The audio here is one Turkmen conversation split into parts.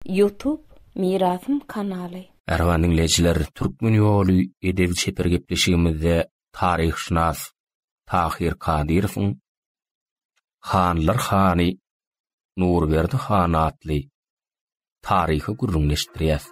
Youtube Mirasym kanaly. Merhaba diňleýjiler, Türkmen ýoly edep-çeper gepleşigimizde taryhşynas Tahyr Kadyrowyň Hanlar hany Nurberdi han atly taryhy gürrüňdeşdirýäs.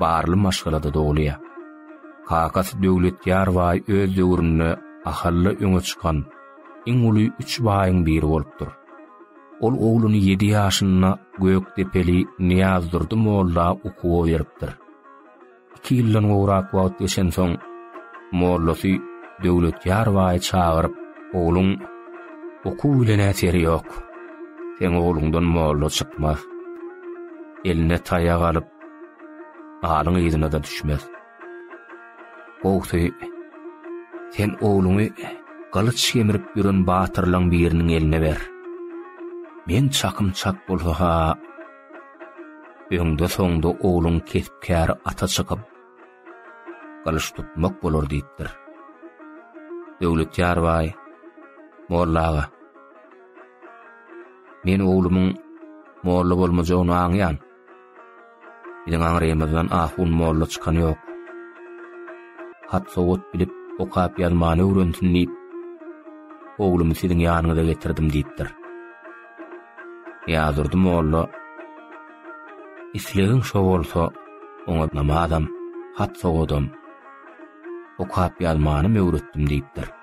barly maşgalada dogulýar. Kakasy Döwletýar baý öz döwründe Ahalla öňe çykan iň uly üç baýyň biri bolupdyr. Ol ogluny ýedi ýaşynda gökdepeli Nyýazdurdy molla okuwa beripdir. Iki ýyldan gowrak wagt geçensoň, mollasy Döwletýar baýy çagyryp, Ogluň okuw bilen äteri ýok. Seň ogluňdan molla çykmaz. Eline taýak alyp, alyň yzyna-da düşmez. Gowsy, sen ogluňy gylyç gemirip ýören batyrlaň biriniň eline ber. Men çakym çak bolsa-ha, öňde-soňda ogluň kesp-käri ata çykyp, gylyç tutmak bolar diýipdir. Döwletýar baý, Molla aga, Men oglumyň molla bolmajagyny aňýan. Biziň aňrymyzdan ahun molla çykan ýok. Hat-sowat bilip, okap ýazmany öwrensin diýip, oglumy siziň ýanyňyza getirdim diýipdir. Ýazdurdy molla. Islegiň şo bolsa, oňa namazam, hat-sowatam, okap ýazmanam öwretdim diýipdir.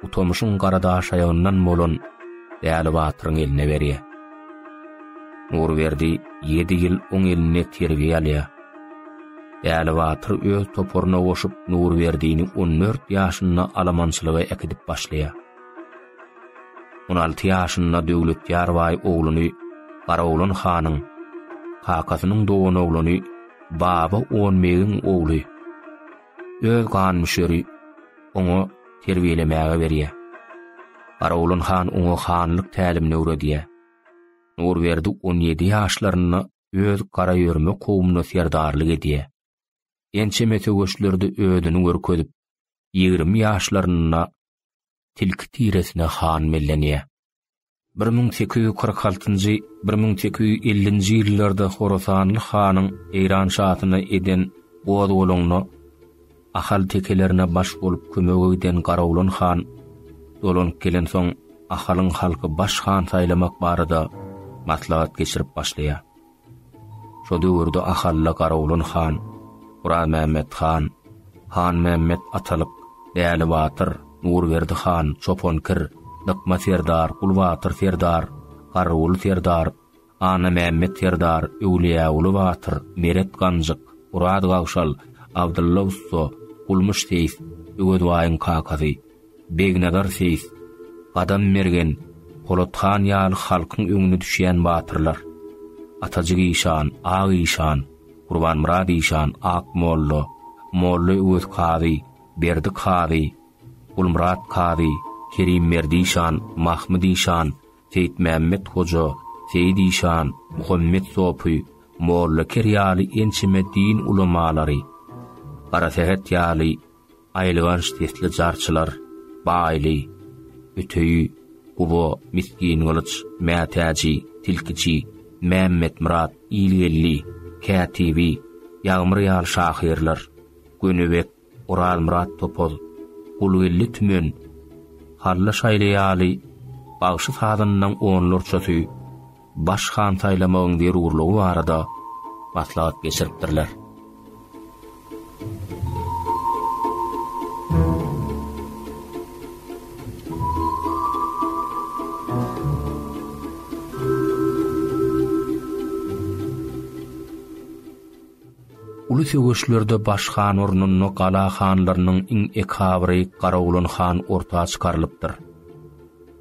bu tomushyň garadaşaýagyndan bolan Däli batyryň eline berýär. Nurberdi ýedi ýyl oň elinde terbiýe alýar. Däli batyr öz toparyna goşup Nurberdini on dört ýaşynda alamançylyga äkidip başlaýar. On alty ýaşynda Döwletýar baý ogluny Garaoglan hanyň, kakasynyň doganoglany Baba Onbegiň ogly öz gan müşeri oňa terbiýelemäge berýär. Garawulan han oňa hanlyk tälimini öwredýär. Nurberdi on ýedi ýaşlarynda öz garaýörme kowumyna serdarlyk edýär. Ençeme söweşlerde özüni görkezip, ýigrimi ýaşlarynda tilki tiresine han bellenýär. Bir müň sekiz ýüz kyrk altynjy, bir müň sekiz ýüz ellinji ýyllarda horasanly hanyň Eýran şasyna eden gozgalaňyna ahaltekelerine baş bolup kömege giden Garawlan han dolanyp gelensoň, Ahalyň halky baş han saýlamak barada maslahat geçirip başlaýar. Şo döwürde Ahalla Garawulan han, Guramämmet han, Hanmämmet Atalyk, Däli batyr, Nurberdi han, Çopan kir, Dykma serdar, Gulbatyr serdar, Garryguly serdar, Annamämmet serdar, Öwlüýäguly batyr, Meret ganjyk, Oraz gagşal, Abdylla ussa, Gulmyş seýis, Öwezbaýyň kakasy, Begnazar seýis, Gadam mergen, Polat han ýaly halkyň öňüne düşýän batyrlar, Atajyk işan, Ak işan, Gurbanmyrat işan, Ak molla, Molla Öwez kazy, Berdi kazy, Gulmyrat kazy, Kerim Merdişan, Mahmyt işan, Seýitmämmet hoja, Seýit işan, Muhammet sopy, Molla Ker ýaly ençeme din ulamalary, Garasähet ýaly Aýylganç sesli jarçylar, Baýly, Öteýi, Guba, Misgingylyç, Mätäji, Tilkiçi, Mämmetmyrat, Ilgeldi, Kätibi, Ýagmyr ýaly şahyrlar, Gönübek, Orazmyrat Topuz, Gulgeldi Tümen, Hally Şaýly ýaly bagşy-sazandaň onlarçasy, baş han saýlamagyň zerurlygy barada maslahat geçiripdirler. Uly söweşlerde baş han ornunda gala hanlarynyň iň ekabry Garawulan han orta çykarylypdyr.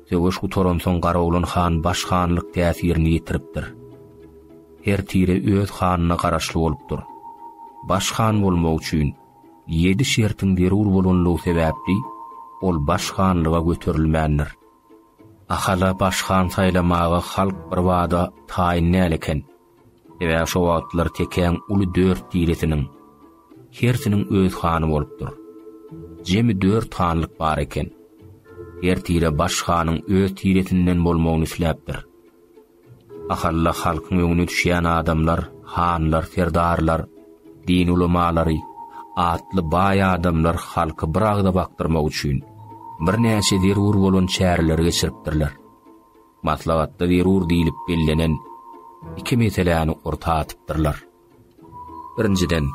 Söweş gutaransoň Garoglan han baş hanlyk täsirini ýitiripdir. Her tire öz hanyna garaşly bolupdyr. Baş han bolmak üçin ýedi şertiň zerur bolanlygy sebäpli ol baş hanlyga göterilmändir. Ahala baş han saýlamaga halk birbada taýyn däl eken. Sebäbi şo wagtlar tekäň uly dört tiresiniň hersiniň öz hany bolupdyr. Jemi dört hanlyk bar eken. Her tire baş hanyň öz tiresinden bolmagyny isläpdir. Ahalla halkyň öňüne düşýän adamlar, hanlar, serdarlar, din ulamalary, atly baý adamlar halky bir agza bakdyrmak üçin birnäçe zerur bolan çäreleri geçiripdirler. maslahatda zerur diýlip bellenen iki meseläni orta atypdyrlar. Birinjiden,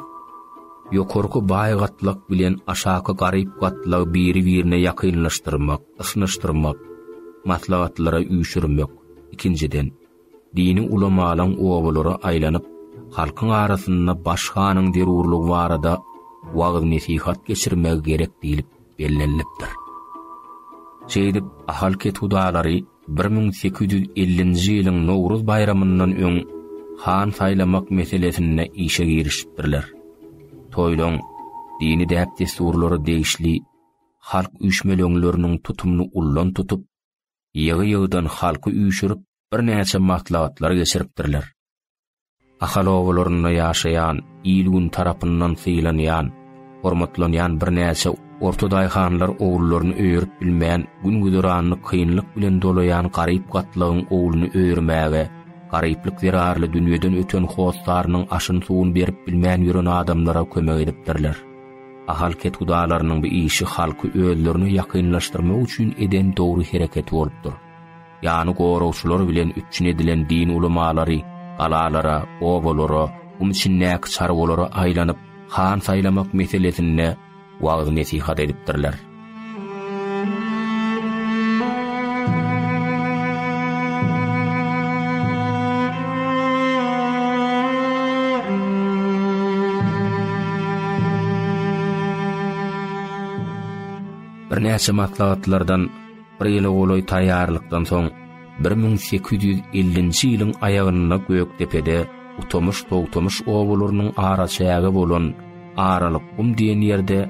ýokarky baý gatlak bilen aşaky garyp gatlagy biri-birine ýakynlaşdyrmak, yşnyşdyrmak, maslahatlara üýşürmek, ikinjiden, dini ulamalaryň obalara aýlanyp, halkyň arasynda baş hanyň zerurlygy barada wagyz-nesihat geçirmegi gerek diýlip bellenilipdir. Şeýdip, Ahal kethudalary bir müň sekiz ýüz ellinji ýylyň Nowruz baýramyndan öň han saýlamak meselesinde işe girişipdirler. Toýlaryň dini däp-dessurlary degişli halk üýşmeleňleriniň tutumyny ullan tutup, ýygy-ýygydan halky üýşürip, birnäçe maslahatlar geçiripdirler. Ahal obalarynda ýaşaýan, il-gün tarapyndan sylanýan, hormatlanýan birnäçe orta daýhanlar ogullaryny öýerip bilmän, gün-güzeranyny kynlyk bilen dolaýan garyp gatlagyň ogluny öýermäge, garyplyk zerarly dünýeden öten hossarynyň aşyn-suwuny berip bilmän ýören adamlara kömek edipdirler. Ahal kethudalarynyň bu işi halky özlerine ýakynlaşdyrmak üçin eden dogry hereketi bolupdyr. Ýany goragçylar bilen üpjün edilen din ulamalary galalara, obalara, gum içindäki çarwalara aýlanyp, han saýlamak meselesinde wagyz-nesihat edipdirler. Birnäçe maslahatlardan Bir ýyla golaý taýýarlykdan soň, bir müň sekiz ýüz ellinji ýylyň aýagynda Gökdepede Utamyş-Togtamyş obalarynyň araçägi bolan Aralykgum diýen ýerde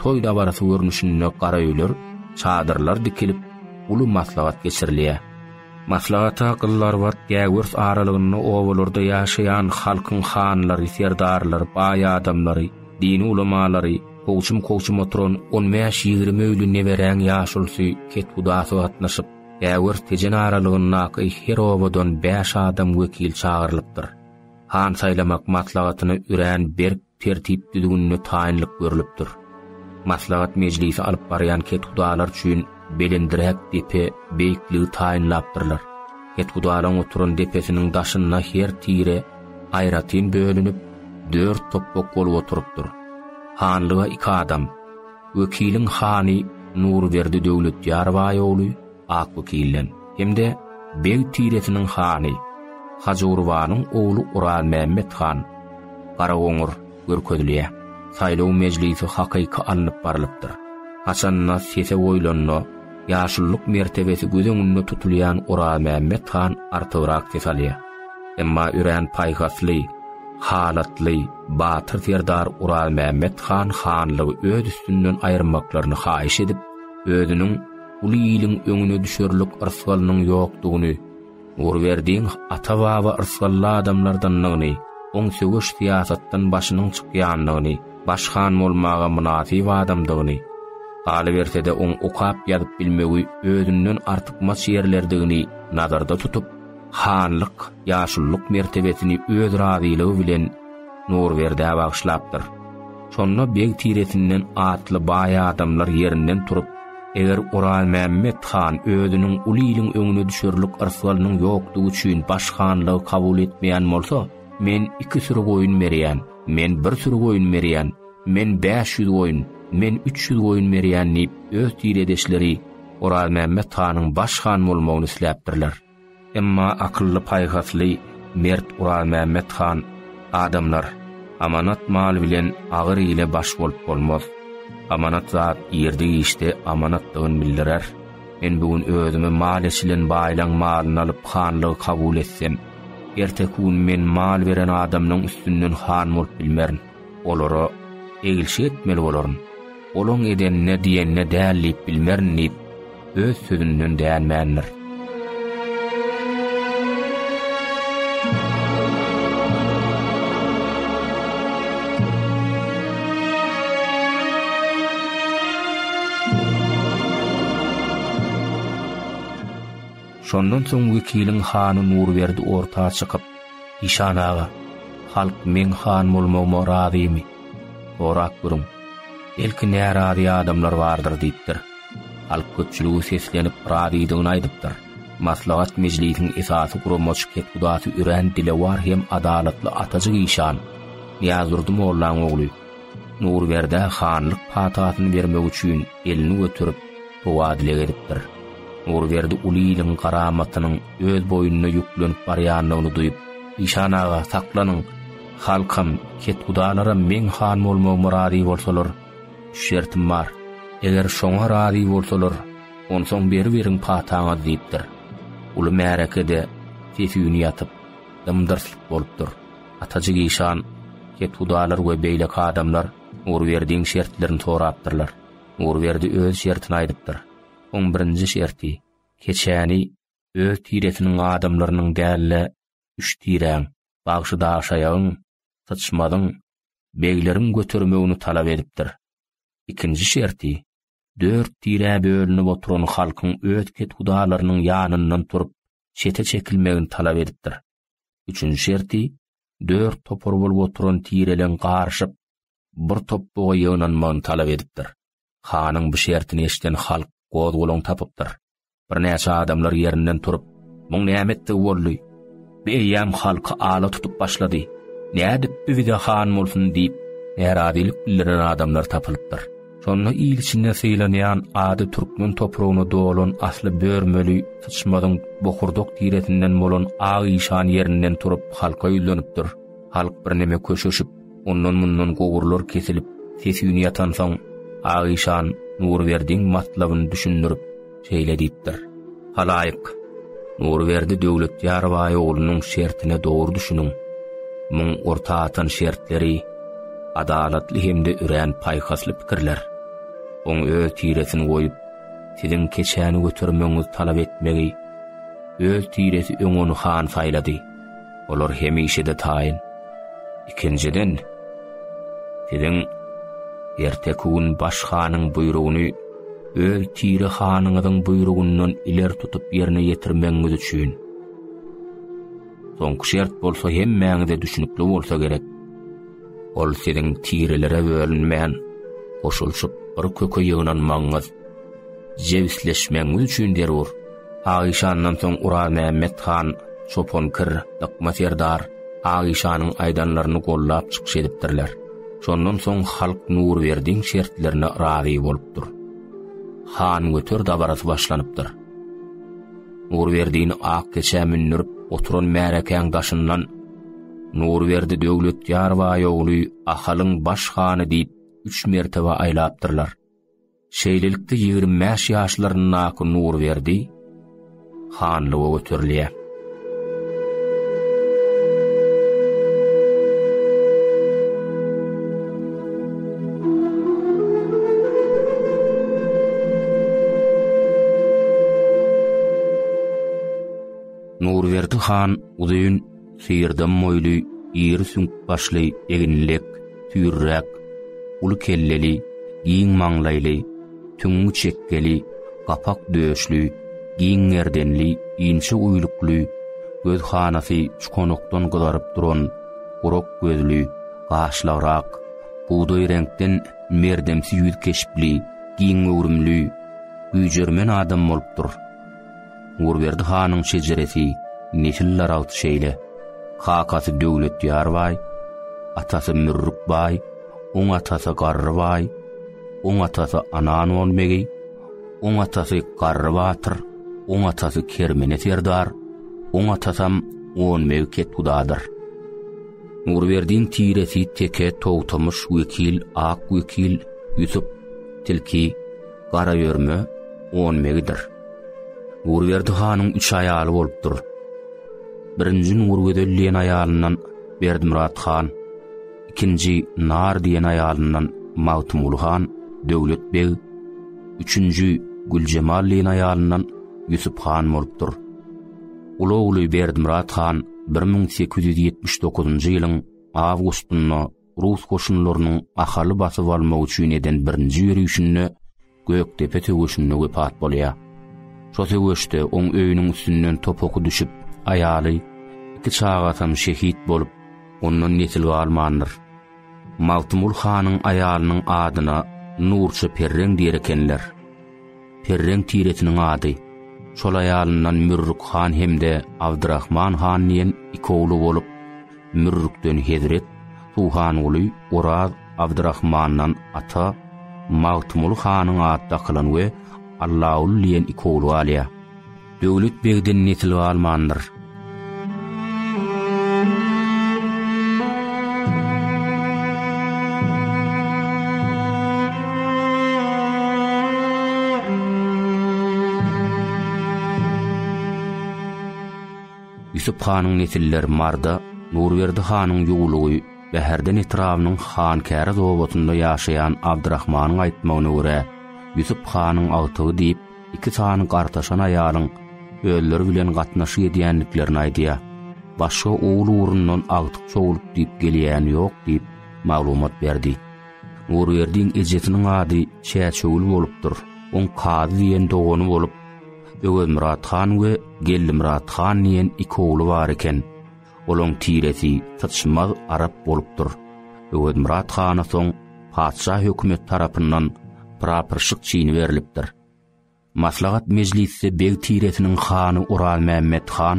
toý dabarasy görnüşinde gara öýler, çadyrlar dikilip, uly maslahat geçirilýär. Maslahata Gyzlarbat, Gäwers aralygynda obalarda ýaşaýan halkyň hanlary, serdarlary, baý adamlary, dini ulamalary, Kowçum-kowçum oturan on bäş-ýigrimi öýli neberäň ýaşulusy kethudasy gatnaşyp, Ägirt Tejen aralygyndaky her obadan bäş adam wekil çagyrylypdyr. Han saýlamak maslahatyna örän berk tertip-düzgünli taýynlyk görlüpdir. Maslahat mejlisi alyp barýan kethudalar üçin Belendräk depe beýikligi taýynlapdyrlar. Kethudalaryň oturan depesiniň daşynda her tire aýratyn bölünip, dört topbak bolup oturypdyr. Hanlyga iki adam, wekiliň hany Nurberdi Döwletýar baý ogly Akwekilden hem-de beg tiresiniň hany Hajygurbanyň ogly Orazmämmet han, Garagoňur, görkezilýär. Saýlaw mejlisi hakyky alnyp barlypdyr. Haçanda sese goýlanda, ýaşululyk mertebesi göz öňünde tutulýan Orazmämmet han artygrak ses alýar. Emma örän paýhasly, halatly, batyr serdar Orazmämmet han hanlygy öz üstünden aýyrmaklaryny haýyş edip, özüniň uly iliň öňüne düşerlik ysgalynyň ýokdugyny Nurberdiň ata-baba yrsgally adamlardandygyny, oň söweş syýasatdan başynyň çykýandygyny, baş han bolmaga mynasyp adamdygyny, galyberse-de oň okap ýazyp bilmegi özünden artykmaç ýerlerdigini nazarda tutup, hanlyk, ýaşululyk mertebesini öz razylygy bilen Nurberdä bagyşlapdyr. Şonda beg tiresinden atly baý adamlar ýerinden turup, eger Orazmämmet han özüniň uly iliň öňüne düşerlik yrsgalynyň ýokdugy üçin baş hanlygy kabul etmeýän bolsa, men iki süri goýun berýän, men bir süri goýun berýän, men bäş ýüz goýun, men üç ýüz goýun berýän diýip, öz tiredeşleri Orazmämmet hanyň baş han bolmagyny isläpdirler. Emma akylly-paýhasly mert Guralmämmet han, Adamlar, amanat mal bilen agyr ile baş bolup bolmaz. Amanat zat ýerde işde amanatdygyny bildirer. Men bu gün özüme mal eçilen baýlaň malyny alyp hanlygy kabul etsem, erteki gün men mal beren adamlaň üstünden han bolup bilmerin. Olara, Egilşik etmeli bolaryn. Olaň edenine, diýenine däl diýip bilmerin diýip, öz sözünden dänmändir. Şondan soň wekiliň hany Nurberdi orta çykyp, Işan aga, halk meň han bolmagyma razymy? Sorap görüň. Belki närazy adamlar bardyr diýipdir. Halk köpçüligi seslenip razydygyny aýdypdyr. Maslahat mejlisiň esasy guramaçy kethudasy örän dilewar hem adalatly atajyk işan, Nyýazdurdy mollaň ogly, Nurberdä hanlyk patasyny bermek üçin elini göterip, Howwa dile gezipdir. Nurberdi uly iliň garamatynyň öz boýnuna ýüklenip barýandygyny duýup, Işan aga, saklanyň! Halkam, kethudalaram meň han bolmagyma razy bolsalar, üç şertim bar. Eger şoňa razy bolsalar, onsoň beriberiň pataňyzy diýipdir. Uly märekede ses-üýn ýatyp, dym-dyrslyk bolupdyr. Atajyk işan, kethudalar we beýleki adamlar Nurberdiň şertlerini sorapdyrlar. Nurberdi öz şertini aýdypdyr. Oň birinji şerti, keçäni öz tiresiniň adamlarynyň däl-de, üç tiräň, bagşydaşaýagyň, syçmazyň, begleriň götermegini talap edipdir. Ikinji şerti, dört tirä bölünip oturan halkyň öz kethudalarynyň ýanyndan turup, çete çekilmegini talap edipdir. Üçünji şerti, dört topar bolup oturan tireleň garyşyp, bir top buga ýygnanmagyny talap edipdir. Hanyň bu şertini eşiden halk gozgalaň tapypdyr. Birnäçe adamlar ýerinden turup, Muň näme etdigi boldy? Bu eýýäm halky ala tutup başlady. Nädip bu bize han bolsun diýip, närazylyk bildiren adamlar tapylypdyr. Şonda il içinde sylanýan ady türkmen topragyna dolan asly börmeli syçmazyň bokurdak tiresinden bolan Ak işan ýerinden turup halka ýüzlenipdir. Halk birneme köşeşip, Ondan-mundan gowurlar kesilip, ses-üýn ýatansoň, Agyşan Nurberdiň matlabyny düşündirip, şeýle diýipdir, Halaýyk, Nurberdi Döwletýar baý oglunyň şertine dogry düşüniň. Muň orta atan şertleri, adalatly hem-de örän paýhasly pikirler. Oň öz tiresini goýup, siziň keçäni götermegiňizi talap etmegi, öz tiresi öň ony han saýlady. Olar hemişe-de taýyn. Ikinjiden, siziň erteki gün baş hanyň buýrugyny öz tire hanyňyzyň buýrugyndan ileri tutup ýerine ýetirmegiňiz üçin. Soňky şert bolsa hemmäňize düşünikli bolsa gerek. Ol siziň tirelere bölünmän, goşulyşyp bir köke ýygnanmagyňyz, jebisleşmegiňiz üçin zerur. Ak işandan soň Urazmämmet han, Çopan kir, Dykma serdar Ak işanyň aýdanlaryny gollap çykyş edipdirler. Şondan soň halk Nurberdiň şertlerine razy bolupdyr. Han göter dabarasy başlanypdyr. Nurberdini ak keçä mündürip oturan märekäň daşyndan Nurberdi Döwletýar baý ogly Ahalyň baş hany diýip üç mertebe aýlapdyrlar. Şeýlelikde ýigrimi bäş ýaşlaryndaky Nurberdi hanlyga göterilýär. Nurberdi han uzyn syrdam moýly, iri süňk başly, eginlek, süýrräk, uly kelleli, giň maňlaýly, tüňňi çekgeli, gapak döşli, giň gerdenli, inçe uýlukly, göz hanasy çukonokdan gyzaryp duran, gurak gözli, gaşlagrak, bugdaý reňkden merdemsi ýüz keşpli, giň göwrümli, güýjermen adam bolupdyr. Nurberdi hanyň şejeresi nesil daragt şeýle, kakasy Döwletýar baý, atasy Mürrük baý, oň atasy Garry baý, oň atasy Anangon begi, oň atasy Garry batyr, oň atasy Kermene serdar, oň atasam Gon beg ketgudadyr. Nurberdiň tiresi Teke, Togtamyş, Wekil, Ak wekil, Ýusup, Tilki, Garaörme on begidir. Nurberdi hanyň üç aýaly bolupdyr. Birinji Nurgözel diýen aýalyndan Berdimyrat han, ikinji Nar diýen aýalyndan Magtymguly han, Döwlet beg, üçünji Güljemal diýen aýalyndan Ýusup han bolupdyr. Uly ogly Berdimyrat han 1879-njy ýylyň awgustynda rus goşunlarynyň Ahaly basyp almak üçin eden birinji ýörişinde Gökdepe söweşinde wepat bolýar. Şo söweşde oň öýüniň üstünden top oky düşüp, aýaly, iki çagasy hem şehit bolup, ondan nesil galmandyr. Magtymgul hanyň aýalynyň adyna Nurça Perreň diýer ekenler. Perreng tiresiniň ady. Şol aýalyndan Mürrük han hem-de Abdyrahman han diýen iki ogly bolup, Mürrükden Hezret, Suhanguly, Oraz, Abdyrahmandan Ata, Magtymguly hanyň ady dakylan we Allaguly diýen iki ogly galýar. Döwlet begden nesil galmandyr. Ýusup hanyň nesilleri Marda, Nurberdi hanyň ýuwlugy Bäherden etrabynyň Hankäriz obasyna ýaşaýan Abdyrahmanyň aýtmagyna görä, Ýusup hanyň agtygy diýip, Iki sany gartaşan aýalyň özleri bilen gatnaşyk edýändiklerini aýdýar. Başga owul ugrundan agtyk sowlup diýip gelýäni ýok diýip, maglumat berdi. Nurberdiň ejesiniň ady Çäçöwül bolupdyr. Oň Kazy diýen dogany bolup, Öwezmyrat han we Geldimyrat han diýen iki ogly bar eken. Olaň tiresi syçmaz arap bolupdyr. Öwezmyrat hana soň patyşa hökümeti tarapyndan prapyrşyk çini berlipdir. Maslahat mejlisde beg tiresiniň hany Orazmämmet han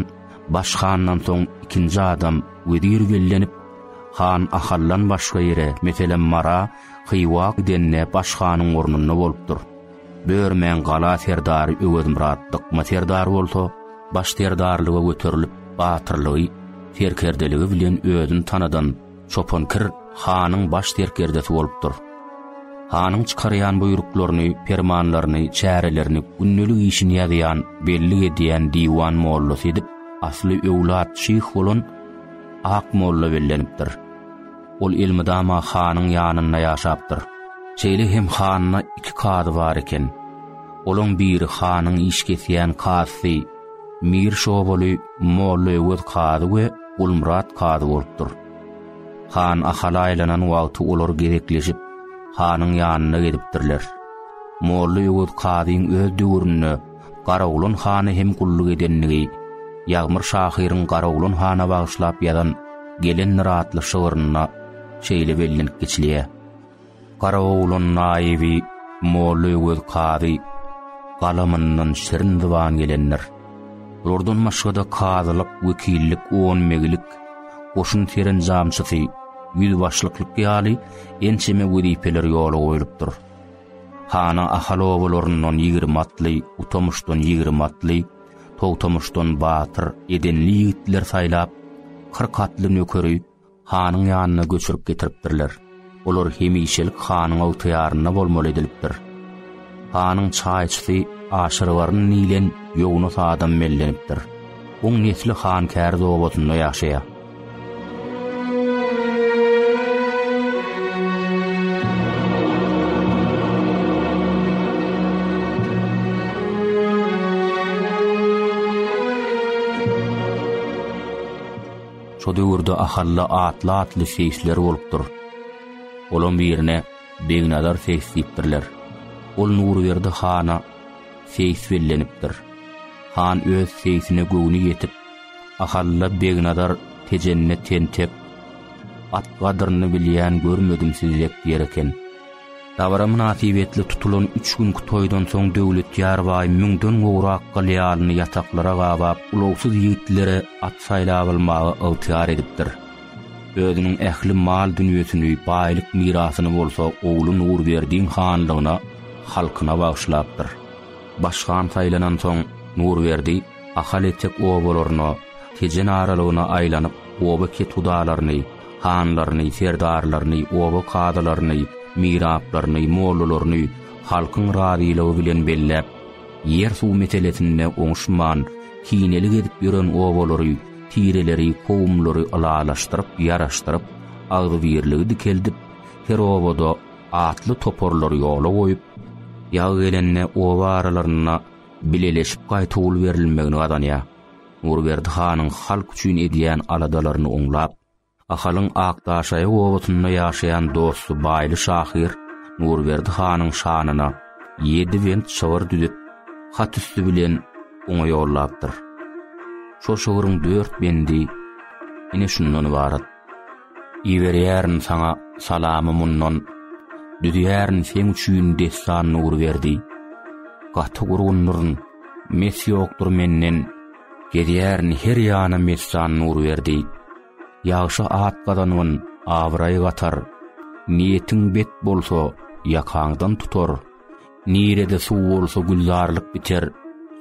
baş handan soň ikinji adam wezir bellenip, han Ahaldan başga ýere, meselem, Mara, Hywa gidende baş hanyň ornunda bolupdyr. Börmäň gala serdary Öwezmyrat Dykma serdar bolsa, baş serdarlyga göterilip, batyrlygy, serkerdeligi bilen özüni tanadan Çopan Kir hanyň baş serkerdesi bolupdyr. Hanyň çykarýan buýruklaryny, permanlaryny, çärelerini, gündelik işini ýazýan, bellik edýän diwan mollasy edip, asly öwlat şyh bolan Akmolla bellenipdir. Ol elmydama hanyň ýanynda ýaşapdyr. Şeýle hem handa iki kazy bar eken. Olaň biri hanyň iş kesýän kazysy Mir Şobaly Molla Öwez kazy we Gulmyrat kazy bolupdyr. Han Ahal aýlanan wagty olar gezekleşip, hanyň ýanyna gelipdirler. Molla Öwez kazyň öz döwründe Garagulun hana hem gulluk edendigi Ýagmyr şahyryň Garagulun hana bagyşlap ýazan Gelendir atly şygrynda şeýle bellenip geçilýär, Garagulun naýyby Molla Öwez kazy galamyndan şirin zyban gelendir. Bulardan başga-da kazylyk, wekillik, onbeglik, goşun serenjamçysy, ýüzbaşlyklyk ýaly ençeme wezipeler ýola goýlupdyr. Hana Ahal obalaryndan ýigrimi atly, Utamuşdan ýigrimi atly, Togtamuşdan batyr, edenli ýigitler saýlap, kyrk atly nökeri hanyň ýanyna göçürip getiripdirler. Olar hemişelik hanyň ygtyýarynda bolmaly edilipdir. Hanyň çaýçysy Aşyrbaryn diýlen ýownus adam bellenipdir. Oň nesli Hankäriz obasynda ýaşaýar. Şo döwürde Ahalla atly-atly şeýşler bolupdyr. Olam birine Begnazar seýs diýipdirler. Ol Nurberdi hana seýs bellenipdir. Han öz seýsine göwni ýetip, Ahalla Begnazar Tejenne tentek, at gadyryny bilýän görmedim sizi dek ýer eken. Dabara mynasybetli tutulan üç günki toýdan soň Döwletýar baý müňden gowrak gylýalyny ýataklara gabap ulagsyz ýigitlere at saýlap almagy ygtyýar edipdir. Özüniň ähli mal-dünýesini, baýlyk mirasyny bolsa ogly Nurberdiň hanlygyna, halkyna bagyşlapdyr. Başhan saýlanansoň Nurberdi. Ahal etek obalaryna, Tejen aralygyna aýlanyp, oba kethudalaryny, hanlaryny, serdarlaryny, oba kazylaryny, miraplaryny, mollalaryny halkyň razylygy bilen belläp, ýer-suw meselesinde oňuşman, kinelik edip ýören obalary, tireleri, kowumlary ylalaşdyryp, ýaraşdyryp, agzybirligi dikeldip, her obada atly toparlary ýola goýup, ýag gelende oba aralarynda bileleşip gaýta gul berilmegini gazanýar. Nurberdi hanyň halk üçin edýän aladalaryny oňlap, Ahalyň Akdaşaýy obasynda ýaşaýan dosty Baýly şahyr Nurberdi hanyň şanyna ýedi bent şygyr düzüp, hat üsti bilen oňa ýollapdyr. Şol şygryň dört bendi ine şundan ybarat. Iberýärin saňa salamy mundan, Düzýärin seň üçin dessan Nurberdi. Gaty gurgundyryn, mes ýokdur menden, Gezýärin her ýana messan Nurberdi. Ýagşy at gazangyn, abraý gatar, Niýetiň bet bolsa, ýakaňdan tutar. Nirede suw bolsa gülzarlyk biter,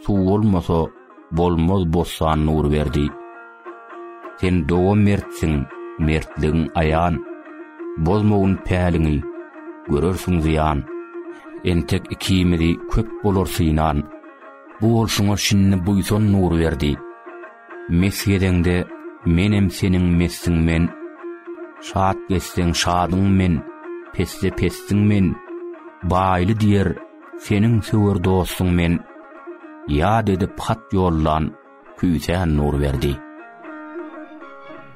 suw bolmasa bolmaz bossan Nurberdi. Sen doga mertsiň, mertligiň aýan, bozmagyn päliňi, görersiň zyýan. Entek ikimizi köp bolar synan, bu bolşuňa şindi buýsan Nurberdi. Mes gezeňde Menem seniň mesdiň men, Şat gezseň şadyň men, Pesde pesdiň men, Baýly diýer, seniň söwer dostuň men, Ýat edip hat ýollan, Küýsän Nurberdi.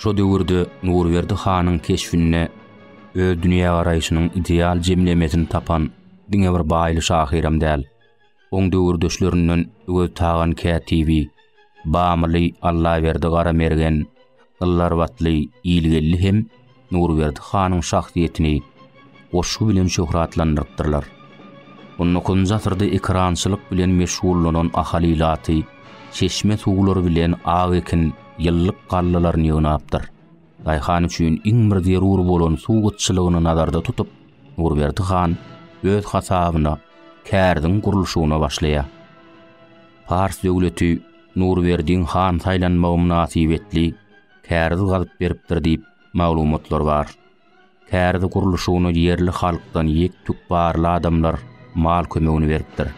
Şo döwürde Nurberdi hanyň keşbinde öz dünýägaraýşynyň ideal jemlemesini tapan diňe bir Baýly şahyram däl, oň döwürdeşlerinden Öweztagan kätibi, Bamyly Allaberdi Garamergen, Yllarbatly Ilgeldi hem Nurberdi hanyň şahsyýetini, goşgy bilen şöhratlandyrypdyrlar. On dokuzynjy asyrda ekerançylyk bilen meşgullanan Ahal ilaty çeşme suwlary bilen ak ekin, ýyllyk gallalaryny ýygnapdyr. Daýhan üçin iň bir zerur bolan suw gytçylygyny nazarda tutup, Nurberdi han öz hasabyna kärziň gurluşygyna başlaýar. Pars döwleti Nurberdiň han saýlanmagy mynasybetli kärz gazyp beripdir diýip maglumatlar bar. Kärde gurluşygyny ýerli halkdan ýek-tük barly adamlar mal kömegini beripdir.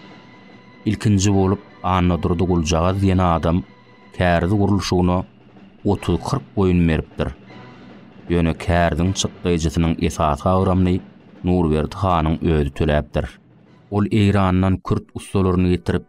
Ilkinji bolup Annadurdy Guljagaz diýen adam kärde gurluşygyna otuz-kyrk goýun beripdir. Ýöne kärdiň çykdaýjysynyň esasy agramyny Nurberdi hanyň özi töläpdir. Ol Eýrandan kürt ussalaryny getirip,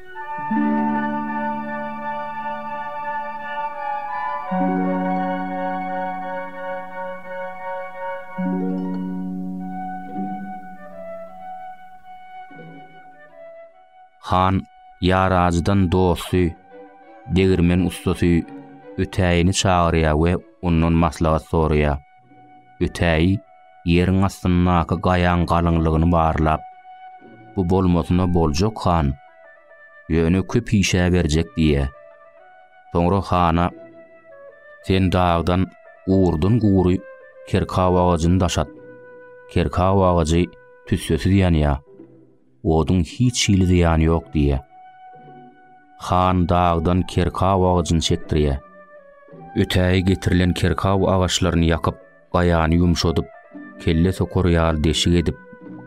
Han ýaracydan dosty, degirmen ussasy Ötäýini çagyrýar we ondan maslahat soraýar. Ötäý, ýeriň astyndaky gaýaň galyňlygyny barlap, Bu bolmasyna boljak, han. Ýöne köp işä berjek diýýä. Soňra hana, Sen dagdan gurdan-gury kerkaw agajyny daşat. Kerkaw agajy tüssesiz ýanýar. oduň hiç hili zyýany ýok diýýä. Han dagdan kerkaw agajyny çekdirýä. Ötäýi getirilen kerkaw agaçlaryny ýakyp, gaýany ýumşadyp, kelle sokar ýaly deşik edip,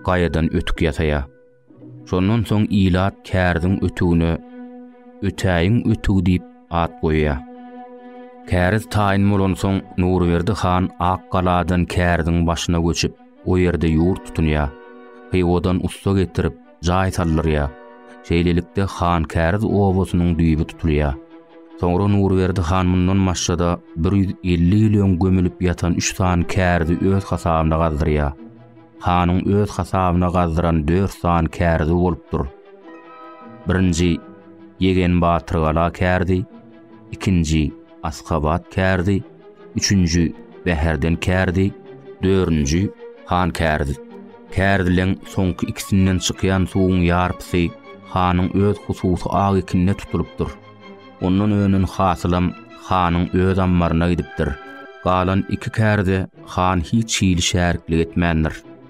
gaýadan ötük ýasaýa. Şondan soň ilat kärziň ötügine Ötäýiň ötügi diýip at goýýa. Kärz taýyn bolansoň Nurberdi han Akgaladan kärziň başyna göçüp, O ýerde ýurt tutulýar. Hywadan ussa getirip, jaý saldyrýar. Şeýlelikde, Hankäriz obasynyň düýbi tutulýar. Soňra Nurberdi han mundan maşgada bir ýüz elli ýyl öň gömülip ýatan üç sany kärizi öz hasabyna gazdyrýar. Hanyň öz hasabyna gazdyran dört sany kärizi bolupdyr. Birinji, Ýegen Batyrgala käridi, ikinji, Askabat käridi, Üçünji, Bäherden kärdi, dördünji, Han kärdi. Kärdileň soňky ikisinden çykýan suwuň ýarpysy hanyň öz hususy agy kinde tutulypdyr. Ondan önen hasylam hanyň öz ammaryna gidipdir. Galan iki kärde han hiç hili şäriklik etmändir.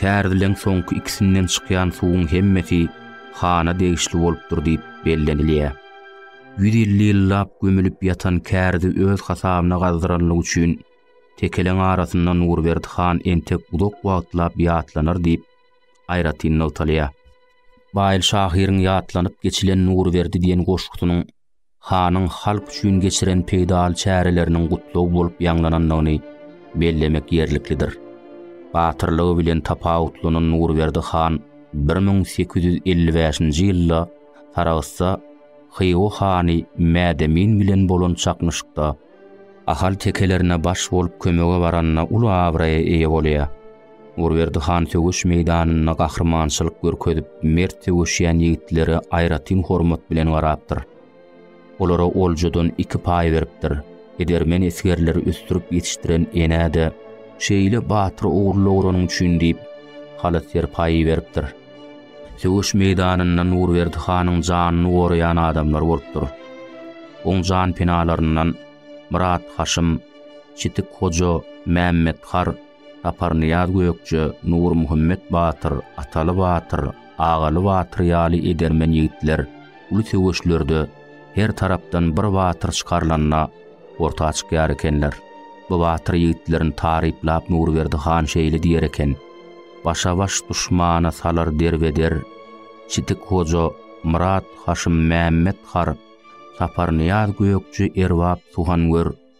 Kärdelenç soňky ikisinden çykýan suwuň hemmesi hana degişli bolupdyr diýip bellenilýär. Ýüz elli ýyllap gömülip ýatan kärdi öz hasabyna gazdyranlygy üçin tekeleň arasynda Nurberdi han entek uzak wagtlap ýatlanar diýip, aýratyn nygtalýar. Baýly şahyryň ýatlanyp geçilen Nurberdi diýen goşgusynyň hanyň halk üçin geçiren peýdaly çäreleriniň gutlag bolup ýaňlanandygyny bellemek ýerliklidir. Batyrlygy bilen tapawutlanan Nurberdi han bir müň sekiz ýüz elli bäşinji ýylda Saragtda Hywa hany Mädemin bilen bolan çaknyşykda ahal tekelerine baş bolup kömege baranda uly abraýa eýe bolýar. Urberdi han söweş meýdanynda gahrymançylyk görkezip, mert söweşýän ýigitlere aýratyn hormat bilen garapdyr. Olara oljadan iki paý beripdir. Edermen esgerleri ösdürip ýetişdiren enä-de şeýle batyr ogul dogranyň üçin diýip, haly serpaýy beripdir. Söweş meýdanynda Nurberdi hanyň janyny goraýan adamlar bolupdyr. Oň janpenalaryndan Myrat Haşym, Çitik Hoja, Mämmet Har, Saparnyýaz Gökje, Nurmuhammet batyr, Ataly batyr, Agaly batyr ýaly edermen ýigitler uly söweşlerde her tarapdan bir batyr çykarylanda orta çykýar ekenler. Bu batyr ýigitlerini taryplap Nurberdi han şeýle diýer eken, Başa-baş duşmana salar derbeder Çitik Hoja, Myrat, Haşym Mämmet har, Saparnyýaz Gökje erbap suhangör,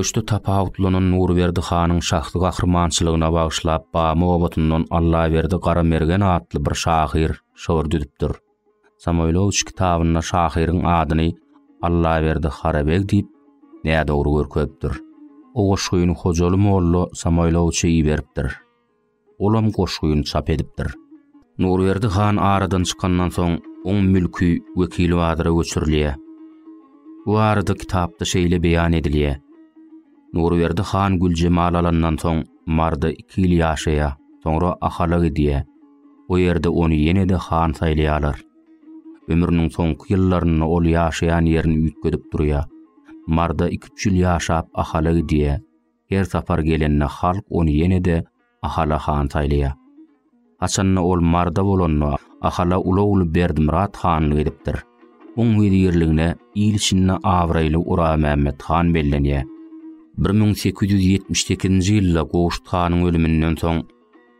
Söweşde tapawutlanan Nurberdi hanyň şahsy gahrymançylygyna bagyşlap Bamy obatyndan Allaberdi Garamergen atly bir şahyr şygyr düzüpdir. Samoýlowiç kitabynda şahyryň adyny Allaberdi Garabeg diýip, nädogry görkezipdir. O goşgyny Hojaly molla Samoýlowiçe iberipdir. Olam goşgyny çap edipdir. Nurberdi han aradan çykandan soň, oň mülki Wekilbazyra göçürilýär. Bu barada kitapda şeýle beýan edilýär, Nurberdi han Güljemal alandan soň, Marda iki ýyl ýaşaýar, soňra Ahala gidýär. O ýerde ony ýene-de han saýlaýarlar. Ömrüniň soňky ýyllarynda ol ýaşaýan ýerini üýtgedip durýar. Marda iki-üç ýyl ýaşap Ahala gidýär. Her sapar gelende halk ony ýene-de Ahala han saýlaýar. Haçanda ol Marda bolanda Ahala uly ogly Berdimyrat hanlyk edipdir. Oň wezirligine il içinde abraýly Oramämmet han bellenýär. Bir müň sekiz ýüz ýetmiş sekizinji ýylda Gowşut hanyň ölüminden soň,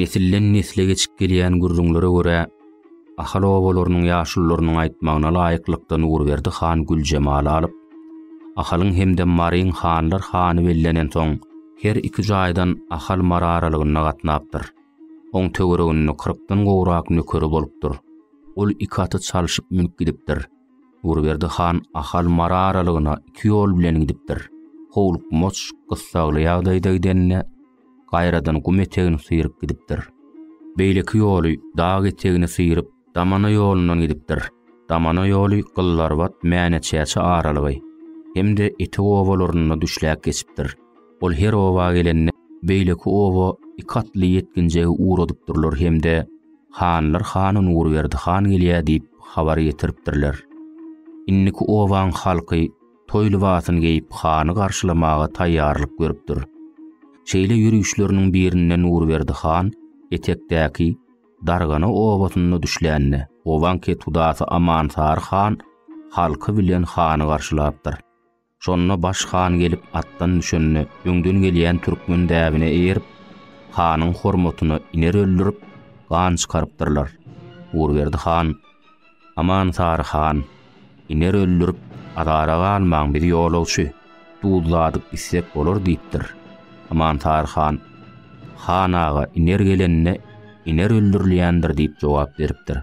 Nesilden nesle geçip gelýän gürrüňlere görä, Ahal obalarynyň ýaşulularynyň aýtmagyna laýyklykda Nurberdi han Güljemaly alyp, Ahalyň hem-de Maryň hanlar hany bellenen soň, her iki jaýdan Ahal-Mary aralygynda gatnapdyr. Oň töwereginde kyrkdan gowrak nökeri bolupdyr. Ol iki aty çalşyp münüp gidipdir. Nurberdi han Ahal Mara aralygyna iki ýol bilen gidipdir. Howlukmaç, gyssagly ýagdaýda gidende, gaýradan gum etegini syryp gidipdir. Beýleki ýoly dag etegini syryp, Damana ýolundan gidipdir. Damana ýoly Gyllarbat, Mäneçäçe aralygy hem-de Etek obalarynda düşläp geçipdir. Ol her oba gelende beýleki oba iki atly ýetginjegi ugradypdyrlar hem-de Hanlar hany Nurberdi han gelýär diýip habar getiripdirler. Indiki obaň halky toý lybasyny geýip hany garşylamaga taýýarlyk görüpdir. Şeýle ýörişleriniň birinde Nurberdi han etekdäki Dargana obasynda düşlände, obaň ketudasy Amansary han halky bilen hany garşylapdyr. Şonda Baş han gelip atdan düşende, öňden gelýän türkmen däbine eýerip, hanyň hormatyna iner öldürip, gan çykarypdyrlar. Gurberdi han, Aman Sary han, iner öldürip, azara galmaň, biz ýolagçy, duzladyp içsek bolar diýipdir. Aman Sary han, Han aga, iner gelende, iner öldürilýändir diýip jogap beripdir.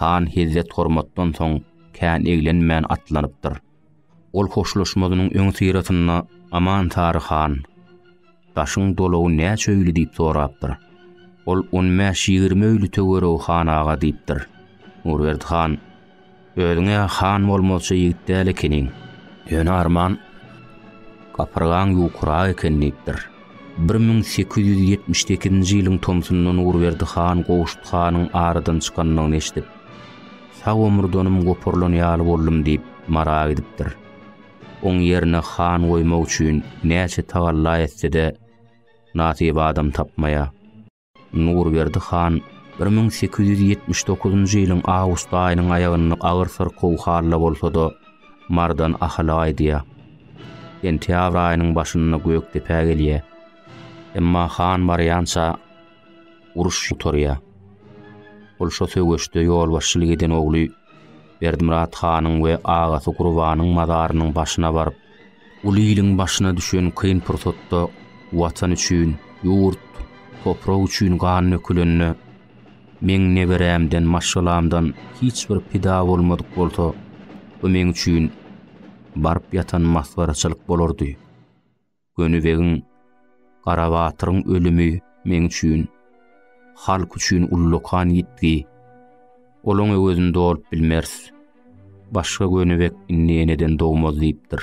Han hezzet-hormatdan soň kän eglenmän atlanypdyr. Ol hoşlaşmazynyň öňüsyrasynda Aman Sary han, Daşyň dolagy näçe öýli diýip sorapdyr. Ol on bäş-ýigrimi öýli töweregi han aga diýipdir. Nurberdi han, Özüň-ä han bolmazçy ýigit däl ekeniň. Ýöne arman gapyrgaň ýukurak eken diýipdir. Bir müň sekiz ýüz ýetmiş sekizinji ýylyň tomsunda Nurberdi han Gowşut hanyň aradan çykandygyny eşidip, Sag omurdanym goparylan ýaly boldum diýip, Mara gidipdir. Oň ýerine han goýmak üçin näçe tagalla etse-de, nasyp adam tapmaýar. Nurberdi han bir müň sekiz ýüz ýetmiş dokuzynjy ýylyň awgust aýynyň aýagynda agyr syrkaw halda bolsa-da, Mardan Ahala gaýdýar. Sentýabr aýynyň başynda Gökdepä gelýär. Emma han barýança uruş gutarýar. Ol şo söweşde ýolbaşçylyk eden ogly Berdimyrat hanyň we agasy Gurbanyň mazarynyň başyna baryp, Uly iliň başyna düşen kyn pursatda Watan üçin, ýurt, toprak üçin gan dökülende, meň neberämden, maşgalamdan hiç bir pida bolmadyk bolsa, bu meň üçin baryp ýatan masgaraçylyk bolardy. Gönübegiň. Garabatyryň ölümi meň üçin, halk üçin ullakan ýitgi. Olaň öwezini dolup bilmeris. Başga gönübek indi eneden dogmaz diýipdir.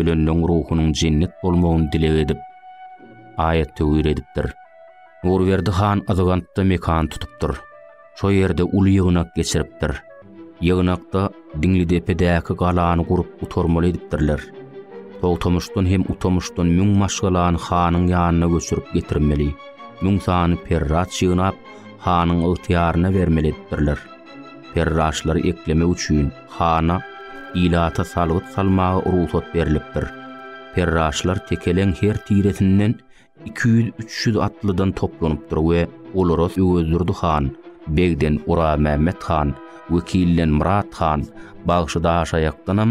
ölenleň ruhunyň jennet bolmagyny dileg edip, aýat töwir edipdir. Nurberdi han Yzygantda mekan tutupdyr. Şo ýerde uly ýygnak geçiripdir. Ýygnakda Diňlidepedäki galany gurup gutarmaly edipdirler. Togtamyşdan hem Utamyşdan müň maşgalany hanyň ýanyna göçürip getirmeli, müň sany perrat ýygnap, hanyň ygtyýaryna bermeli edipdirler. Perraşlary eklemek üçin hana, ilata salgyt salmaga rugsat berlipdir. Perraşlar tekeleň her tiresinden iki ýüz, üç ýüz atlydan toplanypdyr we olara Öwezdurdy han, begden Oramämmet han, wekilden Myrat han, bagşy Daşaýakdanam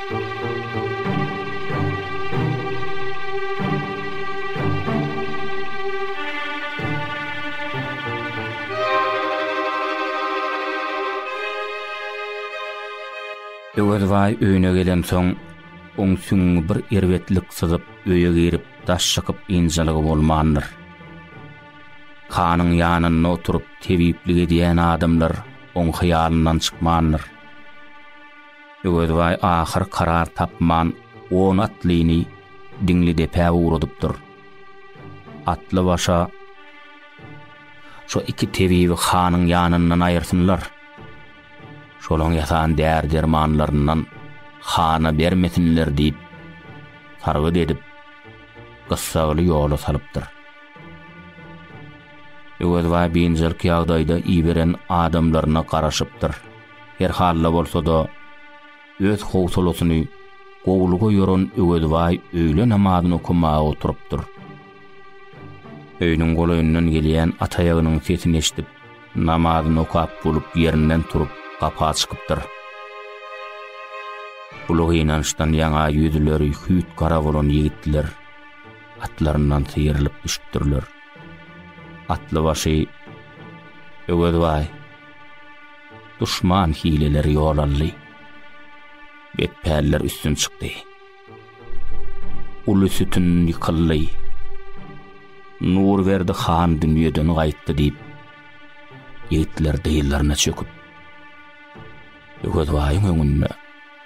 Öwezbaý öýüne gelensoň, oň süňňi bir erbetlik syzyp, öýe girip, daş çykyp ynjalygy bolmandyr. Hanyň ýanynda oturyp, tebiplik edýän adamlar oň hyýalyndan çykmandyr. Öwezbaý ahyr karar tapman on atlyny Diňlidepä ugradypdyr. Atlybaşa, Şo iki tebibi hanyň ýanyndan aýyrsynlar. Şolaň ýasan däri-dermanlaryndan hana bermesinler diýip, sargyt edip, gyssagly ýola salypdyr. Öwezbaý biynjalyk ýagdaýda iberen adamlaryna garaşypdyr. Her hal-da bolsa-da, öz howsalasyny gowulyga ýoran Öwezbaý öýle namazyny okamaga oturypdyr. Öýüniň golaýyndan gelýän at aýagynyň sesini eşidip, namazyny okap bolup ýerinden turup, gapa çykypdyr. Uly gynançdan ýaňa ýüzleri hüýt gara bolan ýigitler atlaryndan syýrylyp düşüpdirler. Atlybaşy Öwezbaý Duşman hileleri ýol aldy. Betpäller üstün çykdy. Uly sütün ýykyldy. Nurberdi han dünýeden gaýtdy diýip, ýigitler dyzlaryna çöküp, Öwezbaýyň öňünde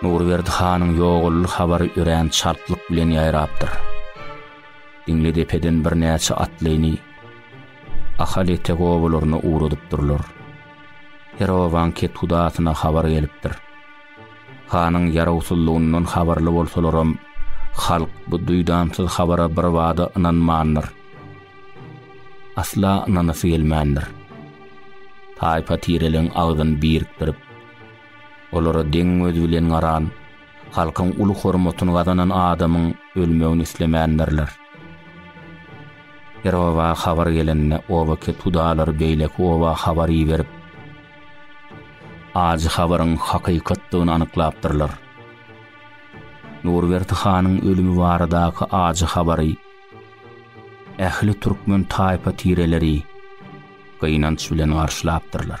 Nurberdi hanyň ýogally habary örän çaltlyk bilen ýaýrapdyr. Diňledepeden birnäçe atlyny Ahal etek obalaryna ugradypdyrlar. Her obanyň kethudasyna habar gelipdir. Hanyň ýarawsyzlygyndan habarly bolsalaram, halk bu duýdansyz habara birbada ynanmandyr. Asla ynanasy gelmändir. Taýpa-tireligiň agzyny birikdirip, olara deň göz bilen garan, halkyň uly hormatyny gazanan adamyň ölmegini islemändirler. Her oba habar gelende oba-ketudalary beýleki oba habar iberip, Ajy habaryň hakykatdygyny anyklapdyrlar. Nurberdi hanyň ölümi baradaky ajy habary ähli türkmen taýpa tireleri gynanç bilen garşylapdyrlar.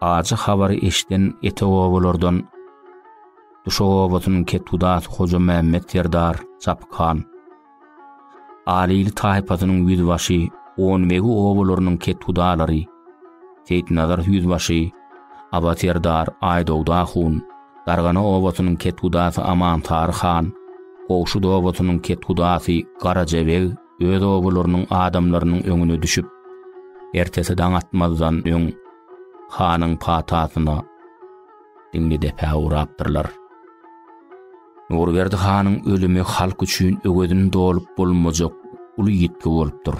Ajy habary eşiden etekobalardan Duşak obasynyň ketgudasy Hojamämmet serdar Çapyk han, Alyýyl taýpasynyň ýüzbaşy Onbegi obalarynyň ketgudalary Seýitnazar ýüzbaşy, Aba serdar Aýdogda hun, Dargana obasynyň ketgudasy Amansary han, Gowşut obasynyň ketgudasy Garajabeg öz obalarynyň adamlarynyň öňüne düşüp, ertesi daň atmazdan öň hanyň patasyna diňli depä urapdyrlar. Nurberdi hanyň ölümi halk üçin öwezini dolup bolmajak uly ýitgi bolupdyr.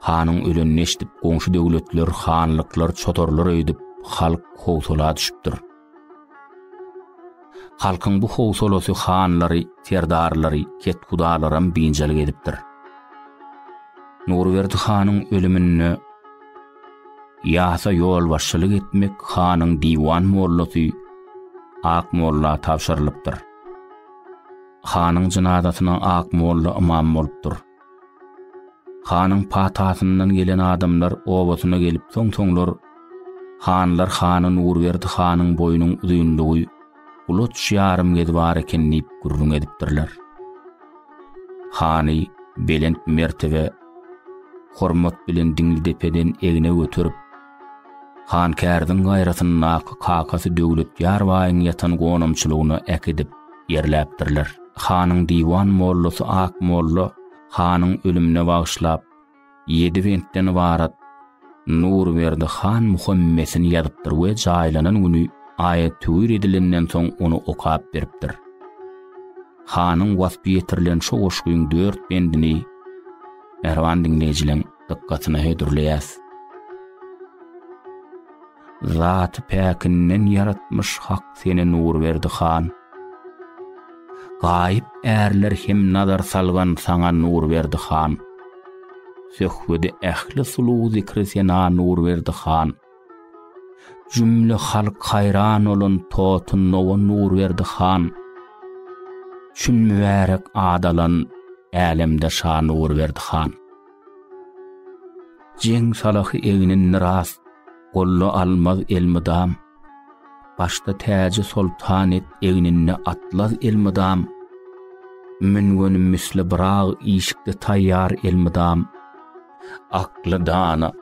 Hanyň ölenini eşidip, goňşy döwletler, hanlyklar çotarlar öýdüp, halk howsala düşüpdir. Halkyň bu howsalasy hanlary, serdarlary, kethudalaram biynjalyk edipdir. Nurberdi hanyň ölüminde ýasa ýolbaşçylyk etmek hanyň diwan mollasy Ak molla tabşyrylypdyr. Hanyň jynazasyna Ak molla ymam bolupdyr. Hanyň patasyndan gelen adamlar obasyna gelip soň-soňlar, Hanlar hany Nurberdi hanyň boýunyň uzynlygy ulaç ýarym gez bar eken diýip gürrüň edipdirler. Hany belent mertebe, hormat bilen Diňlidepeden egne göterip, Han Kärdiň gaýratyndaky kakasy Döwletýar baýyň ýatan gonamçylygyna äkidip, ýerläpdirler. Hanyň diwan mollasy Ak molla hanyň ölümine bagyşlap, ýedi bentden ybarat Nurberdi han muhammesini ýazypdyr we jaýlanan güni aýat töwir edilenden soň ony okap beripdir. Hanyň waspy ýetirilen şo goşgyň dört bendini mähriban diňleýjileň dykgatyna hödürleýäs. Zaty päkinden ýaratmyş Hak seni Nurberdi han. Gaýyp ärler hem nazar salgan saňa Nurberdi han. Söhbedi ähli sulu zikri sena Nurberdi han. Jümle halk haýran olan totun nowa Nurberdi han. Çün mübärek adalan älemde şa Nurberdi han. Jeň salahy egnin miras, Golla almaz elmydam. Başda täji soltan et, Egninde atlaz elmydam. Müngenim misli byrag, Işikde taýýar elmydam. Akly dana,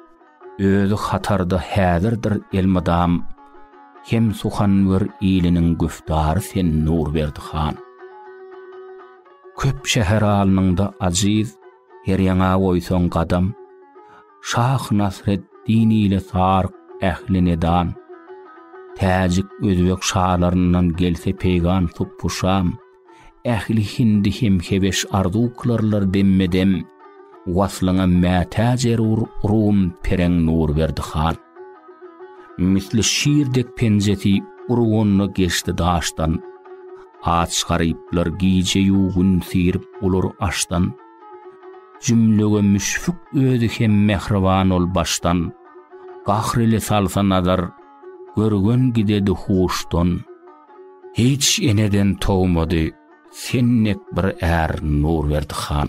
özi hatarda Häzirdir elmydam. Hem suhanwer iliniň Güftary sen Nurberdi han. Köp şäher alnyňda ajiz, Her ýaňa goýsaň gadam, Şah Nasreddin ile Sark ähli nedan. Täjik, özbek şalaryndan gelse peýgam tupbuşam, Ähli hindi hem hebeş arzuw kylarlar demme-dem. Waslyňam mätäç erur rum pereň Nurberdi han. Misli şir dek penjesi urganyna geçdi daşdan. Aç garyplar gije-ýu gün syrip olar açdan. Jümlege müşfik özi hem mähriban ol başdan. Gahr ile salsa nazar, görgen gidedi huşdan. Hiç eneden towmady, sen dek bir är Nurberdi han.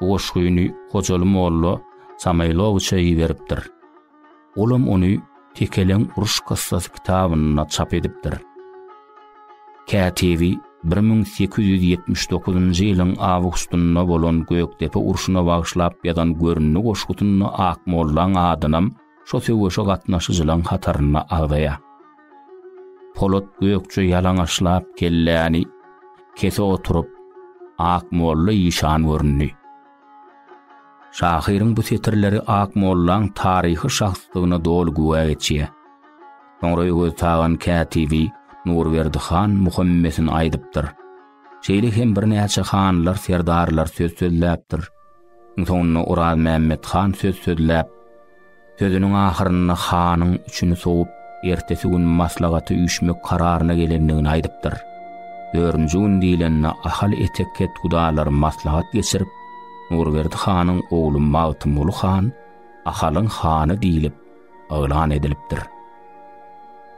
Bu goşgyny Hojaly molla Samaýlowiçe iberipdir. Olam ony Tekeleň uruş kyssasy kitabynda çap edipdir. Kätebi 1879-njy ýylyň awgustynda bolan Gökdepe urşuna bagyşlap ýazan Görünli goşgusynda Akmollaň adynam şo söweşe gatnaşyjylaň hatarynda agzaýar. Polat Gökje ýalaňaçlap kelläni kese oturyp, Akmolla işan göründi. Şahyryň bu setirleri Akmollaň taryhy şahsdygyna doly güwä geçýär. Soňra Öwez Tagan kätibi Nurberdi han Muhammesin aýdypdyr. Şeýle hem birnäçe hanlar, serdarlar söz sözläpdir. Soňunda Orazmämmet han söz sözläp, sözüniň ahyrynda hanyň üçüni sowup, ertesi gün maslahata üýşmek kararyna gelendigini aýdypdyr. Dördünji gün diýlende Ahal etek ketgudalary maslahat geçirip, Nurberdi hanyň ogly Magtymguly han Ahalyň hany diýlip, yglan edilipdir.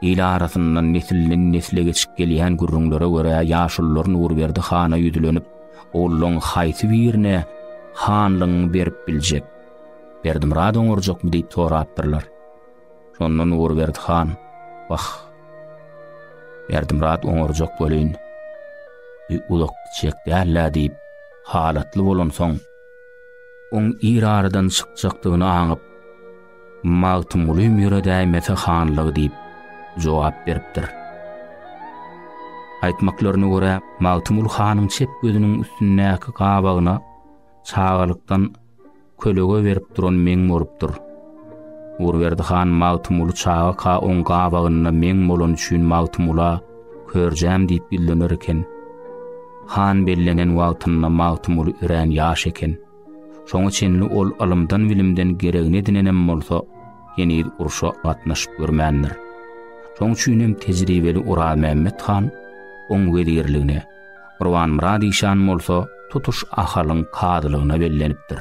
Il arasyndan nesilden-nesle geçip gelýän gürrüňlere görä, ýaşulular Nurberdi hana ýüzlenip, ogullaryň haýsy birine hanlygyňy berip biljek? Berdimyrat oňarjakmy diýip sorapdyrlar. Şonda Nurberdi han, Wah, Berdimyrat oňarjak welin, bu uzak gitjek däl-ä diýip, halatly bolansoň, oň ir aradan çykjakdygyny aňyp, Magtymguly Mire däýmese hanlygy diýip jogap beripdir. Aýtmaklaryna görä, Magtymguly hanyň çep gözüniň üstündäki gabagyna çagalykdan kölege berip duran meň bolupdyr. Urberdi han Magtymguly çagaka oň gabagynda meň bolany üçin Magtymgula körjäm diýip ýüzlener eken. Han bellenen wagtynda Magtymguly örän ýaş eken. Şoňa çenli ol ylymdan-bilimden geregini edinenem bolsa, heniz urşa gatnaşyp görmändir. Şoň üçin hem tejribeli Orazmämmet han oň wezirligine, Gurbanmyrat işan bolsa tutuş Ahalyň kazylygyna bellenipdir.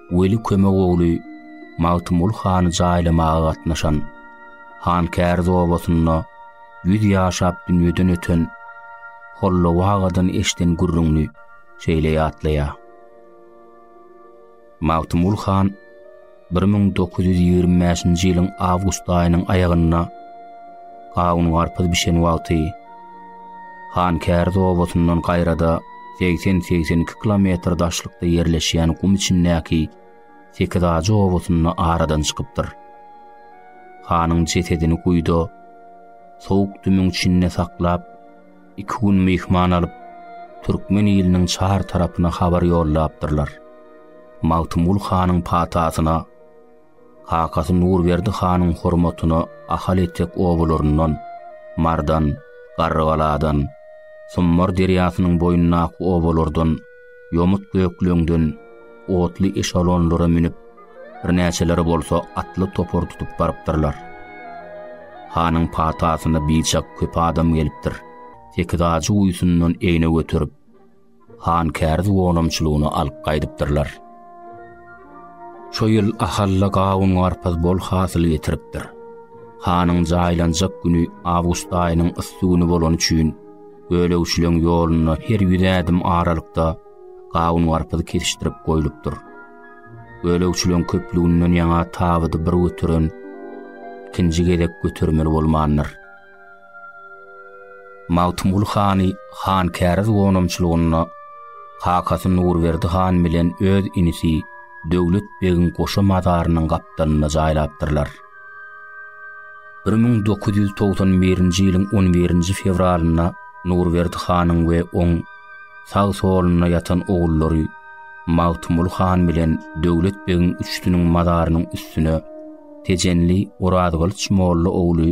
Weli Kömek ogly Magtymguly hany jaýlamaga gatnaşan, Hankäriz obasynda ýüz ýaşap dünýeden öten Hollaw agadan eşden gürrüňini şeýle ýatlaýar. Magtymguly han 1925-nji ýylyň awgust aýynyň aýagynda gawun-garpyz bişen wagty Hankäriz obasyndan gaýrada segsen-segsen iki kilometr daşlykda ýerleşýän gum içindäki Sekizajy obasynda aradan çykypdyr. Hanyň jesedini guýuda sowuk dümüň içinde saklap, iki gün myhman alyp, türkmen iliniň çar tarapyna habar ýollapdyrlar. Magtymgul hanyň patasyna, Kakasy Nurberdi hanyň hormatyna Ahal etek obalaryndan, Mardan, Garrygaladan, Summar derýasynyň boýundaky obalardan, ýomut bökleňden otly eşalonlara münüp, birnäçeleri bolsa atly topar tutup barypdyrlar. Hanyň patasyna biçak köp adam gelipdir. Sekiz ajy guýusyndan egne göterip, han kärz gonamçylygyny alyp gaýdypdyrlar. Şo ýyl Ahalla gawun-garpyz bol hasyl getiripdir. Hanyň jaýlanjak güni awgust aýynyň yssy güni bolany üçin Gölegçileň ýolunda her ýüz ädim aralykda gawun-garpyz kesişdirip goýlupdyr. Gölegçileň köplüginden ýaňa tabydy bir göteren ikinji gezek götermeli bolmandyr. Magtymguly hany Hankäriz gonamçylygynda kakasy Nurberdi han bilen öz inisi Döwlet begiň goşa mazarynyň gapdalynda jaýlapdyrlar. Bir müň dokuz ýüz togsan birinji ýylyň on birinji fewralynda Nurberdi hanyň we oň sag-solunda ýatan ogullary Magtymguly han bilen Döwlet begiň üçüsiniň mazarynyň üstüne tejenli Orazgylyç molla ogly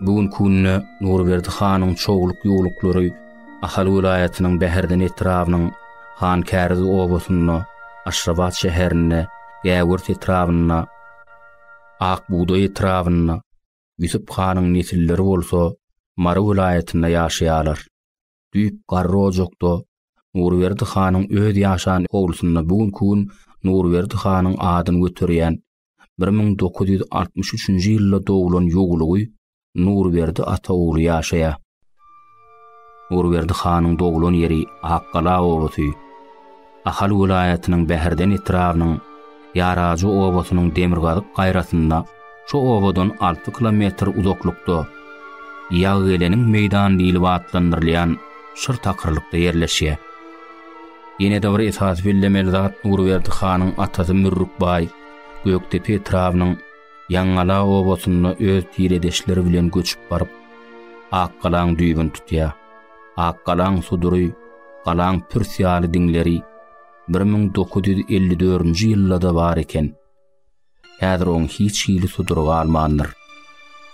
Bu gün künde Nurberdi hanyň çogluk ýurluklary Ahal welaýatynyň Bäherden etrabynyň Han Käriz obasynda, Aşrabat şäherinde, Gäwürt etrabynda, Ak bugdaý etrabynda, Ýusup hanyň nesilleri bolsa Mary welaýatynda ýaşaýarlar. Düýp garry ojakda Nurberdi hanyň öz ýaşan howlusynda bu günki gün Nurberdi hanyň adyny göterýän bir müň dokuz ýüz altmyş üçünji ýylda doglan ýuwlugy Nurberdi ata ogly ýaşaýar. Nurberdi hanyň doglan ýeri Akgala obasy. Ahal welaýatynyň Bäherden etrabynyň Ýarajy obasynyň demirgazyk gaýrasynda, şu obadan alty kilometr uzaklykda Ýaggeleniň meýdany diýlip atlandyrylýan şyr takyrlykda ýerleşýär. Ýene-de bir esasy bellemeli zat Nurberdi hanyň atasy Mürrük baý Gökdepe etrabynyň Ýaňgala obasynda öz tiredeşleri bilen göçüp baryp, Akgalaň düýbüni tutýar. Akgalaň sudury, galaň pürs ýaly diňleri bir müň dokuz ýüz elli dördünji ýylda-da bar eken. Häzir oň hiç hili sudury galmandyr.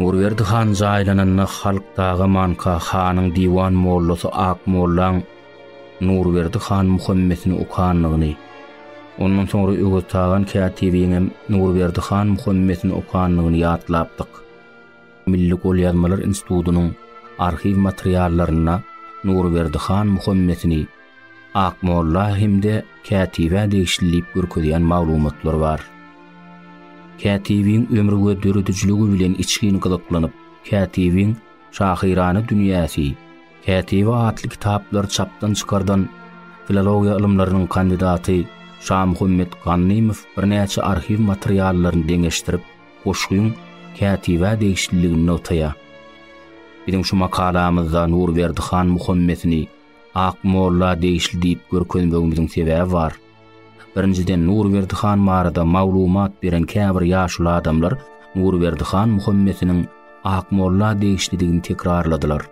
Nurberdi han jaýlananda halk dagamanka hanyň diwan mollasy Akmollaň Nurberdi han Muhammesini okandygyny, ondan soňra Öweztagan kätibiň hem Nurberdi han Muhammesini okandygyny ýatlapdyk. Milli golýazmalar institutynyň arhiw materiallarynda Nurberdi han Muhammesini Akmolla hem-de kätibä degişli diýip görkezýän maglumatlar bar. Kätibiň ömri we döredijiligi bilen içgin gyzyklanyp, kätibiň Şahyrana dünýäsi, Kätibi atly kitaplary çapdan çykardan filologiýa ylymlarynyň kandidaty Şamuhammet Ganymow birnäçe arhiw materiallaryny deňeşdirip, goşgyň kätibä degişliligini nygtaýar. Biziň şu makalamyzda Nurberdi han Muhammesini, Ak molla degişli diýip görkezmegimiziň sebäbi bar. Birinjiden Nurberdi han barada maglumat beren käbir ýaşuly adamlar Nurberdi han Muhammesiniň Ak molla degişlidigini tekrarladylar.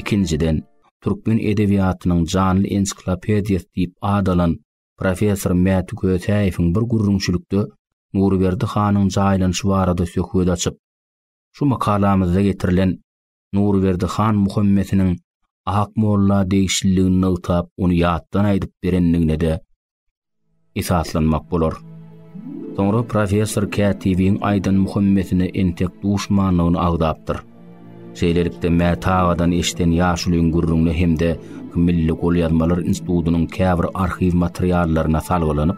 Ikinjiden, türkmen edebiýatynyň janly ensiklopediýasy diýip at alan professor Mäti Kösäýewiň bir gürrüňçilikde Nurberdi hanyň jaýlanyşy barada söhbet açyp, şu makalamyzda getirilen Nurberdi han Muhammesiniň Ak molla degişliligini nygtap, ony ýatdan aýdyp berendigine-de esaslanmak bolar. Soňra professor kätibiň aýdan Muhammesine entek duşmanlygyny agzapdyr. Şeýlelikde Mäta agadan eşden ýaşulyň gürrüňine hem-de Milli golýazmalar institutynyň käbir arhiw materiallaryna salgylanyp,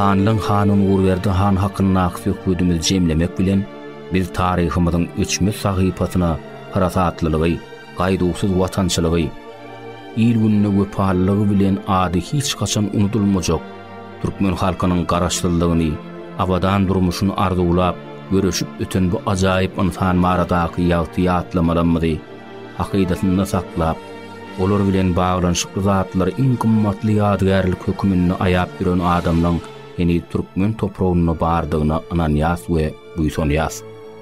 Hanlyň hany Nurberdi han hakyndaky söhbedimizi jemlemek bilen, biz taryhymyzyň öçmez sahypasyna parasatlylygy, gaýduwsyz watançylygy, il-gününe wepalylygy bilen ady hiç haçan unudylmajak, Türkmen halkynyň Garaşsyzlygyny, abadan durmuşyny arzuwlap, göreşip öten bu ajaýyp ynsan baradaky ýagty ýatlamalymyzy hakydasynda saklap, olar bilen baglanyşykly zatlary iň gymmatly ýadygärlik höküminde aýap ýören adamlaň heniz türkmen topragynda bardygyna ynanýas we buýsanýas.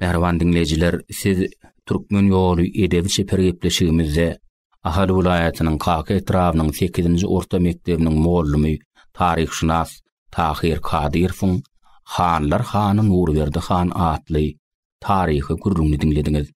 Mähriban diňleýjiler, siz Türkmen ýoly edebi çeper gepleşigimizde Ahal welaýatynyň Kaka etrabynyň sekizinji orta mekdebiniň mugallamy, taryhşynas Tahyr Kadyrowyň Hanlar hany Nurberdi han atly taryhy gürrüňini diňlediňiz.